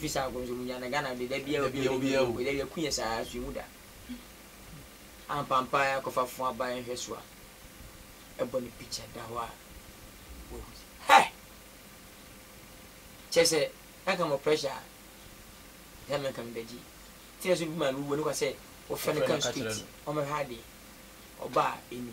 Fi saa kɔ so hu ya na Ghana de da bia obi obi obi obi da bia ku yɛ saa so hu da. Ampampa ya kɔ fa fo aba yɛ hwɛ so a ɛbɔ ne picture da hɔ a wo hu sɛ hɛ! Kyɛ sɛ na ka mɔ pressure a sɛ me nka me bɛgye. Tina so bi ma me wuo ne kwa sɛ wo fɛ no kan street ɔmɛ hwɛ adeɛ ɔbaa ɛni.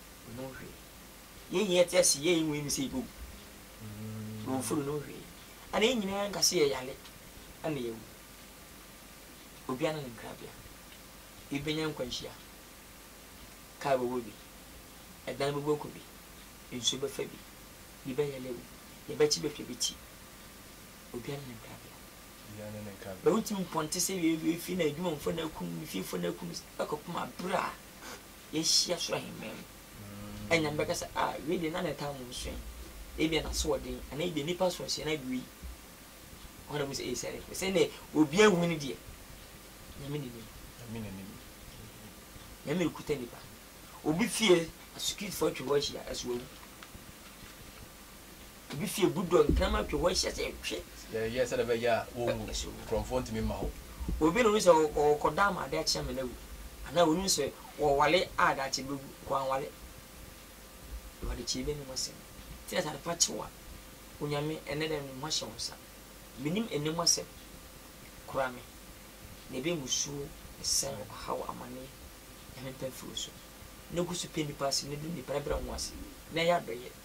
no ho hwee. Yɛn nyinaa te ase yɛ yɛn wɔ yɛn sɛ yɛbɛwu. Wɔ mforo no ho hwee. Ɛna yɛn nyinaa nka sɛ yɛyare ɛna yɛawu. Obiara ne ne nkrabea. Ebi bɛnya nkwanhyia. Kaa bɛbɔ bi. Ɛdan bɛbɔ aku bi. Nsuo bɛfa bi. Bi bɛyare awu. Deɛ bɛkye bɛtwa bi ti. Obiara ne ne nkrabea. Bɛwotumi mpɔnte sɛ wei fie na adwumamfoɔ na akum no, fiefo na akum no, ɛkɔpem aberɛ a Yɛahyia soro ahemman mu. Anyame bɛka sɛ, Ah, wei deɛ na ne tam ho nso ɛ. Ebia n'asoɔden, anaa ebia nnipa asoɔsie no agu yi. Ɛhɔ na wohu sɛ, Ei, sɛdeɛ ɛfiri sɛ ɛnneɛ obiara ahu no deɛ, Nyame na nim. Nyame rekuta nnipa. Obi fie, asukritifo atwa hɔ ahyia, ɛso awu. Ebi fi egu dɔ ntam atwe hɔ ahyia sɛ ɛtwe. Yɛyɛ sɛdeɛ ɛbɛyɛ a wɔnwu. Korɔmfoɔ ntumi mma hɔ. Obi na ɔnim sɛ ɔrekɔda ama adeɛ akye ama no awu, anaa ɔnim sɛ ɔreware a daakye bɛwu, kɔ anware. Awurade kyɛe bɛ ne mo asɛm. Sɛ yɛsɛ adepa kye wo a, Onyame, ɛnnɛ da no me ho ahyɛ wo nsa. Mennim ɛnnɛ mu asɛm. Kora me. Nea ɛbɛyɛ musuo, ɛsiane, ɔhaw, amaneɛ, Nyame mpa mfiri wo so. Na gu so pɛ nnipa ase, na du nnipa, na brɛ wo ho ase, na yɛ adɔeɛ.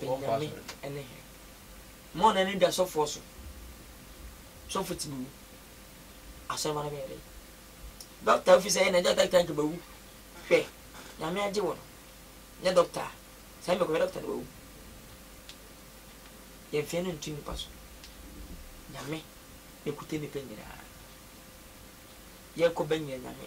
Benyami ne hɛn. Mma ɔnnan no da sɔfoɔ so. Sɔfo tse bewu. Asɔrmba no bɛyɛ dɛn? Dɔkta a ofi sɛ yɛ na gyata kita nka bawu. Hwɛ, Nyame agye wo no, nyɛ dɔkta a, sɛ ame kɔhwɛ dɔkta no wawu. Yɛmfeɛ no nto nnipa so. Nyame na ɔkuta nnipa nyinaa. Yɛkɔ bɛnyɛ Nyame.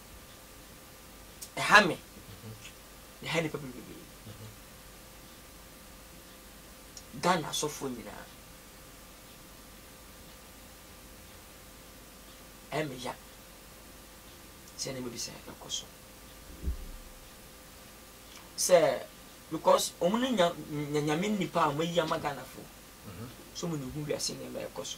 ɛha me na ɛha nnipa bebree ghana asɔfoɔ nyinaa ɛmeya sɛ nneɛma bi sɛ ɛkɔ so sɛ because wɔn no nya nyame nipa a wɔayi ama ghanafoɔ so wɔn na ehu wiase nneɛma ɛkɔ so.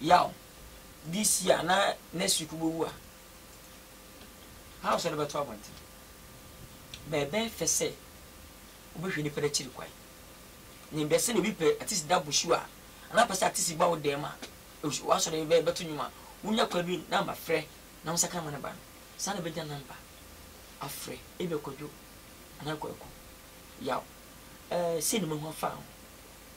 yaw bi si a na next week wobɛwu a, how sɛ wode bɛto abɔnten? Bɛɛbɛɛ fɛ sɛ wobɛhwɛ nnipa no akyiri kwan. Nim bɛ sɛ na obi pɛ atisi da bosu a, anaa pɛ sɛ atisi ba wo dɛm a, w'asɔre bɛ bɛto nnwom a, wonya kwan bi number frɛ na wo nsa ka ma no ba no, saa na bɛnya number afrɛ ebia Kwadwo anaa Kwaku, yaw, eh, sei na mahu afa ho.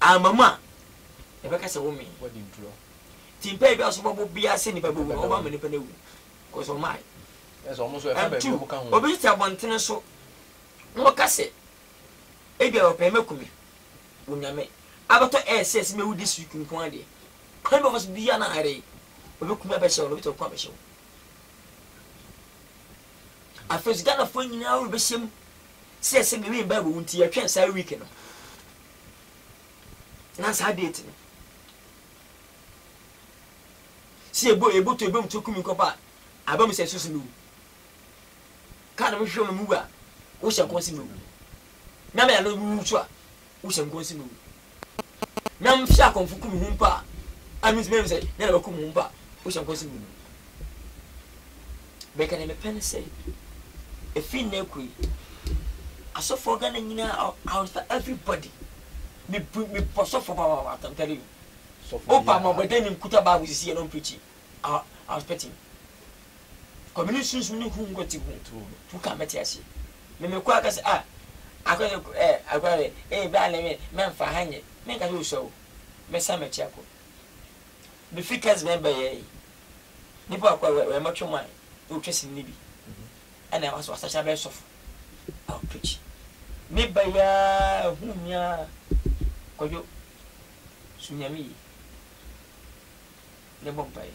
Amma mu a, yɛbɛka sɛ womee. Nti mpae biara so bɔbɔ biara sɛ nnipa bɛwu no, wɔmma mma nnipa no awu, cause wɔmmae. And two, obi tete abɔntene so na ɔka sɛ, ebia wɔpɛ sɛ mɛku me, wɔ Nyame abɛtɔ air sɛ sɛ mɛwu this week nko ara deɛ, any of us biara na ayere, wɔbɛku me abɛhyɛ wo, na obi tete ɔko abɛhyɛ wo. Afei so Ghanafoɔ nyinaa rebɛhyɛ mu sɛ yɛsɛ Menwen Bible wo nti yɛtwɛn saa week no na saa date no sɛ yɛbɔ yɛbɔ to ebom to kumi kɔpa a aba mu sɛ susu mi wu kaa na mehwehwɛ mu mu wu a wohyɛ nkɔn se mi wu na mɛ ano wu so a wohyɛ nkɔm se mewu. Na mehwɛ akɔmfo kum ho mpo a, a mentumi ahu sɛ dɛn na wɔakum ho mpo a, wohyɛ nkɔm se mewu. Bɛka nea mepɛ ne sɛ, efi nnɛ rekɔ yi, asɔfoɔ Ghana nyinaa, I will- I will start everybody. Me bu- me bɔ sɔfoɔ papaapa, I'm telling you. Sɔfo Wopa biara. mɔbɔdɛ ne nkuta Bible sisi yɛ na ɔmpreachi, I will- I will expect him. Kɔme ne sunsum ne hum nkwati ho tu ka mɛte aseɛ me me kɔa kɛsɛ ah akɔ sɛ eh akɔ sɛ eh bɛ alɛ me mɛ nfa ha nyɛ me nka sɛ osua o mɛ san mɛ kyi akɔ me fi kɛs bɛn bɛ yɛ yi nipa akɔ wɛ wɛ mɛ twɛ mwa ne otwɛ sini ne bi ɛna ɛwa so wasa kya bɛ sɔfo awo preach me bɛ ya hu mia kɔdwo su nyame yi ne bɔ mpa yi.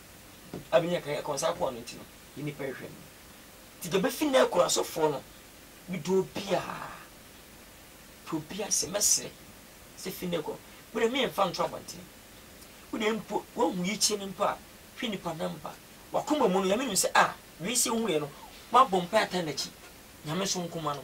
abenya kan akɔ nsa akoa no nti no yɛ nnipa nhwɛ no nti deɛ bɛfi nnɛ akura so foɔ no medɔ obiaa pɛ obiaa sɛ mɛsrɛ sɛ fi nnɛ kɔ wode me mfa nto abɔntene wode mpo woahu yikyɛ no mpo a hwɛ nnipa namba wakoma mu no nyame nim sɛ a wei sɛ wohu yɛ no woabɔ mpa atan nakyi nyame so nkoma no.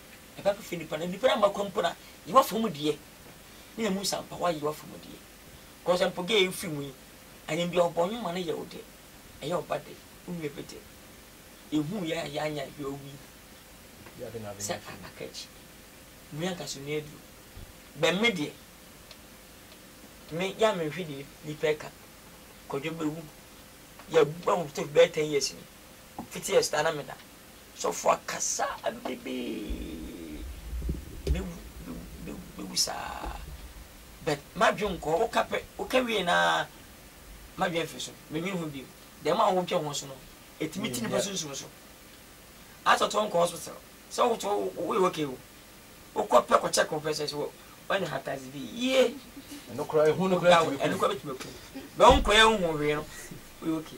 ɛba bɛfiri nnipa na nnipa ama kwan mpo na yewa fam deɛ ne ɛmu nsampawa yewa fam deɛ kɔsɛ mpo gɛ yɛmfiri mu yi anyem deɛ ɔbɔ nwoma no yɛ wo dɛ ɛyɛ ɔba dɛ wo nua bi dɛ yɛhuu yɛ a yɛanya hwɛ owi sɛ a aka akyi mu yɛ nkaso nua aduro bɛn me deɛ me yɛ a menhwɛ deɛ nnipa ɛka kɔdwo bɛwu yɛbua wo sɛ bɛyɛ 10 years ni 50 years taa na meda sɔfo akasa bebee bewu saa but madwen nkɔ woka pɛ woka wie na madwen afiri so menwen ho bio dɛm a wotwa ho so no ɛtumi ti nipa sunsum so atɔtɔ nkɔ hospital sɛ woto woyɛ okay o wokɔ pɛ kɔ check ho pɛ sɛ sɛ wɔne hatazi bi yie ɛno kora ɛhu no kora ɛtumi ɛno kora bɛtumi aku bɛ wonkɔ yɛ nhu hwee no woyɛ okay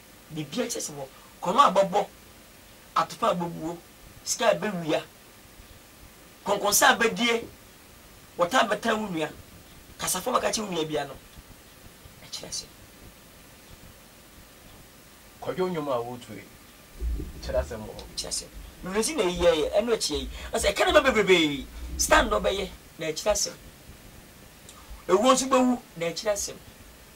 biribiara kyerɛ sɛ wɔ korɔno a bɔbɔ, atopa a bobuo, sika a bɛwia, kɔnkɔnsa a bɛdie, wɔtaa bɛtaa wo nua, kasa fɔm a bɛka kyerɛ wo nua biara no, ɛkyerɛ sɛ. Kwadwo nnwom a woretu yi, kyerɛ asɛm wɔ hɔ. Kyerɛ asɛm. Bebree nti na eyi yɛeɛ, ɛno akyi yi. Ɔsɛ ɛka nneɛma bebrebe. Stand na ɔbɛyɛ, na ɛkyerɛ asɛm. Ewuo nso bɛwu, na ɛkyerɛ asɛm.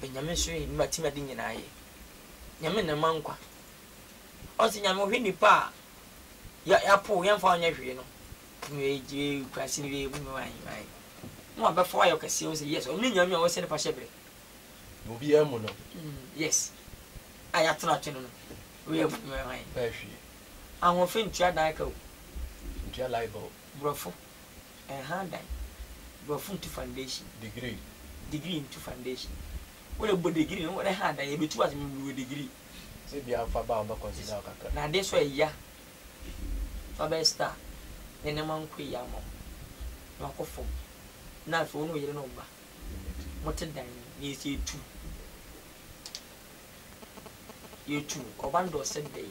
Bɛ Nyame so ye, nima tim ade nyinaa ye. Nyame na ɛma nkwa. Ɔse Nyame ɔhwɛ nipa a yɛapow yɛmfa wo nyɛ hwee no. Kurase no wie mu ae ae. Mo a bɛfa wo ayɛ ɔkɛseɛ wo se yes ɔno ne Nyame a ɔsɛ ne fahyɛ berɛ. Na obiara mu no. Yes a yɛatena atwe no no woyɛ hwee. Ahoɔfɛ ntua dan ka o. Ntua light bill. Brɔfo. Ɛnha dan. Brɔfo ntu foundation. Degree. Degree ntu foundation. Wode bɔ degree no wode ha dan yɛ bɛtu ase mewɔ degree. Sɛ bia nfa ba a wɔbɛ consider wo kakra. Na adeɛ so ɛya fa bɛyɛ star na nneɛma nkɔ yie ama wo na wakɔ fam na afei wo ne wo yere ne wo ba mote dan mu na yɛsi yɛtu yɛtu ɔba no deɛ ɔsɛ dɛn.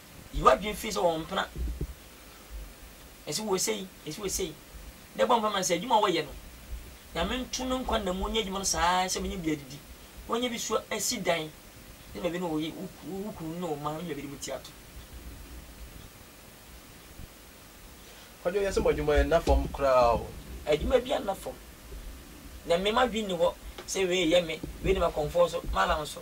Yi w'adwene fi sɛ wɔmpena. Ɛsɛ wɔ sei, ɛsɛ wɔ sei. Na bɔ mpae ma no sɛ adwuma a wɔyɛ no, Nyame nto no nkwa nna mu ɔnyɛ adwuma no saa ara sɛ ɔbɛnya bi adidi, ɔnya bi so asi dan, ne baabi ne wo ye, wo kunu ne wo mma, ɔnya baabi ne mo ti ato. Kwadwo, yɛse mo adwuma yɛ nna fam koraa o. Adwuma biara nna fam. Na me m'adwene nni hɔ sɛ wei yɛ me, wei de m'akɔmfoɔ so, m'alan so.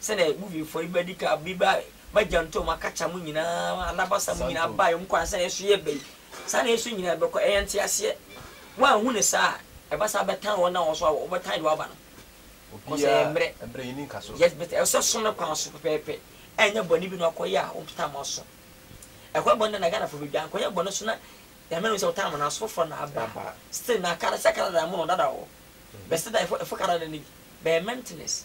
Sɛdeɛ movie foɔ yi bɛdi ka bi ba ba gyantom akakya mo nyinaa anabasa mo nyinaa bae ɔmo kɔ ansa na ɛso yɛ bɛyi saa na ɛso nyinaa bɛkɔ ɛyɛ nteaseɛ woanhu no saa a ɛba saa bɛtan wɔn na wɔn so awɔ wɔbɛtan deɛ waba no cause ɛyɛ mmerɛ yes but ɛwɔ sɛ so no kwan so pɛpɛɛpɛ ɛnyɛ bɔne bi na wakɔ yɛ a wopta mo aso ɛkɔ bɔne na Ghana fo bɛdwa nkɔ yɛ bɔne so na nyame no sɛ wotaa mo no aso foforɔ na aba still na kara sɛ kara da mo no dada wɔ but still da ɛfo kara da no bi bɛyɛ maintenance.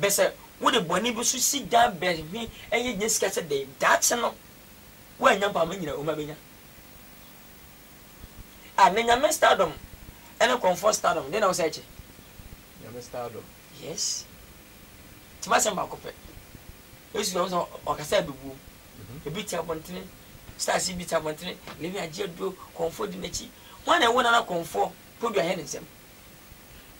Bɛ sɛ wode bɔne bi so si dan bɛ hwe ɛyɛ nya sika sɛ dɛn daakye no woannya mpo ama nyina oma bɛnya a na Nyame stardom ɛne kɔmfoɔ stardom dɛn na wosɛ ɛkyɛ Nyame stardom yes nti masɛm baako pɛ Yesu ɔmo sɛ ɔkasa ɛbɛbuom ebi te abɔntene stars yi bi te abɔntene lewi agye aduro kɔmfoɔ di n'akyi hwan na ɛwo nana kɔmfoɔ podua hɛ ne nsɛm.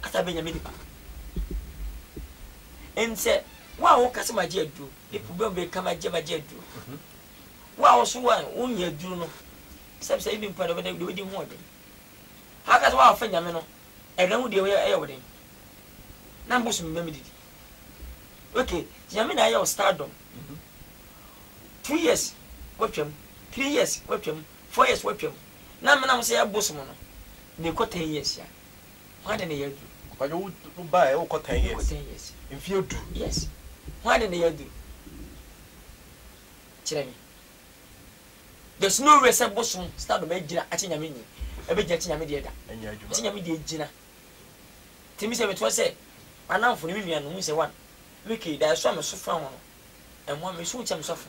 Kasa bɛ Nyame nipa Enti sɛ wo a woka sɛ magye aduro De problem bɛ ka magye magye aduro Wo a woso wa wonnya aduro no Sɛ bisa ebi mpo a deɛ wobɛdi ho ɔden How ka sɛ wo a wofɛ Nyame no Ɛdɛ ho deɛ ɛyɛ wo den Na mbo so me mɛ me didi Ok Nyame na ayɛ wo stardom Two years watwam Three years watwam Four years watwam Na me na ho sɛ ɛbosom no Mekɔ ten years a. Hwan ne ne yɛ aduru? Ɔbadwo wo wo ba ɛ wokɔ ten years. Wokɔ ten years. Mfie du. Yes. Hwan ne ne yɛ aduru? Kyerɛ me. There's no way sɛ bosom stardom agyina akyɛ nyame nyi. Ɛbɛgyina akyɛ nyame deɛ da. Ɛnyɛ adwuma. Akyɛ nyame deɛ gyina. Nti me sɛ metoa sɛ m'anamfo ne me nuanom hu sɛ one, me kei da ɛso a meso fa ho no ɛmmoa me, meso wo kyɛ meso afa.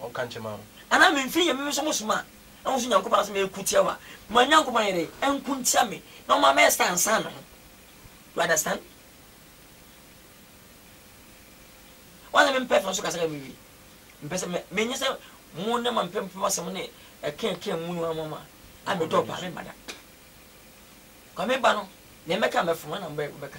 Ɔnka nkyɛ ma wo. Anaa memfiri yɛ me nso mo soma a wo nso Nyankopɔn asɛm ɛko tia wo a ma Nyankopɔn ayɛ dɛn ɛnko ntia me na ɔma mɛ stand stand me ho you understand wɔn sɛ me mpɛ fɛ nso kasa yɛ me wie mpɛ sɛ me nye sɛ mo ne ma mpɛ mpɛ ma sɛm ne ɛkɛ ɛkɛ mu no ama ma a me dɔ paa me ba da kwa me ba no ne mɛka mɛfoma na mbɛ bɛka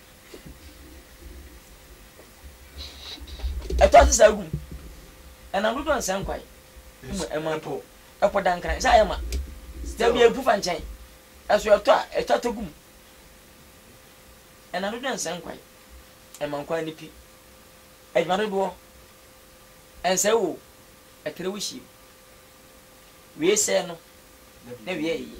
Ɛtɔ ase saa gu mu. Ɛnam dodoɔ nsɛ nkwan mu ɛma mpo ɛpo da nkran sɛ ayɛ ma. Da bi ɛpu fa nkyɛn. Ɛso ɛtɔ a, ɛtɔ atɔ gu mu. Ɛnam dodoɔ nsɛ nkwan ɛma nkwan no pi. Adwuma dodoɔ ɛnsɛ wo o, ɛtrɛ wo hyia mu. Wie sɛɛ no na wie ɛyɛ.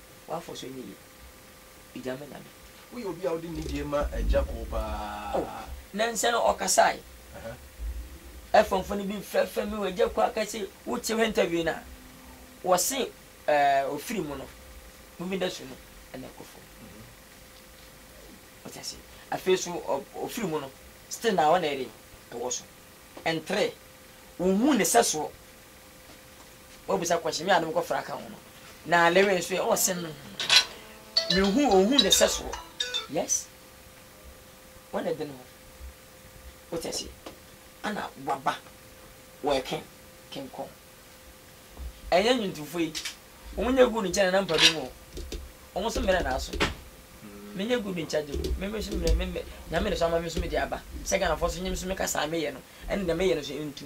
W'afɔ so nyɛ yie. Egya ma Nyame. Woyɛ obi a wode nidie ma Agya koo paa. Oh nɛnsɛ no ɔkasae. Ɛfɔmfɔ no bi fɛfɛ me wɔ Agya koo a kɛse wo te h'interview no a wɔ se eh ofiri mu no movie industry no ɛna ɛkɔ fam wate aseɛ afei nso ofiri mu no still na ɔna ɛdɛn ɛwɔ so ɛntrɛ wo hu ne sɛsoɔ W'abisa kɔhye me a nom kɔfra ka ho no na lewe nso ɛ ɔɔ sɛm me hu o hu ne sɛ soɔ yes wɔ ne den ho wo tɛ se ana waba wɔ ɛke ken kɔn ɛnyɛ nwuntufo yi wɔn nyɛ good nkyɛ na na mpa bi mu o wɔn so mmerɛ na aso me nyɛ good nkyɛ gye ko me me so mmerɛ me me nyame ne so ama me so me de aba sɛ Ghana fɔ so nyɛ me so me kasa me yɛ no ɛne deɛ me yɛ no so ntu.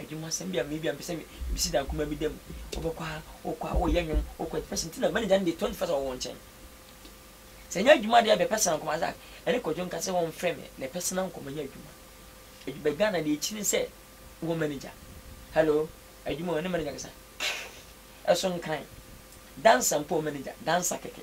Adwumasɛm bi a meyɛ bi a mepɛ sɛ mesi dan kumaa bi dan mu. Wobɛkɔ ha, wokɔ ha, woreyɛ nnwom, wokɔ ha, first nti na manager no de twenty first wɔ wo nkyɛn. Sɛ ɛnyɛ adwuma deɛ ɛbɛ personal nkɔmmɔ asa. Ɛne Kwadwo nka sɛ wɔmfrɛ me na personal nkɔmmɔ nyɛ adwuma. Adwu bɛ Ghana deɛ akyiri ne sɛ wowɔ manager. Hello, adwuma o, ɛne manager kasa. Ɛso nkran. Dancer mpo wɔ manager, dancer kɛkɛ.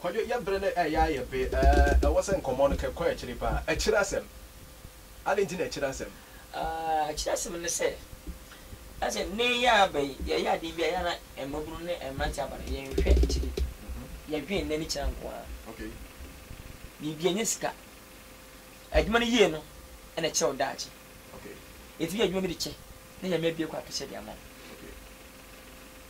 Kwadwo, yɛ bere no ɛyɛ ayɛ be ɛɛ ɛwɔ sɛ nkɔmmɔ no kɛ kɔ akyiri paa. Akyiri asɛm? Adɛn nti na akyiri asɛm? Aah, akyiri asɛm ne sɛ, na sɛ nnɛ yi ara bɛ yi yɛyɛ adeɛ bi a, ɛyɛ a na mmabunu ne mmeranteɛ aba no, yɛnhwɛ akyiri. Yɛdwene nnɛ ne kyena nko ara. Okay. Biribi ɛnyɛ sika. Adwuma no yie no na ɛkyerɛ wo daakye. Okay. Yɛtumi yɛ adwuma bi de kyɛ na Nyame abue kwan kɛseɛ de ama wo. Okay.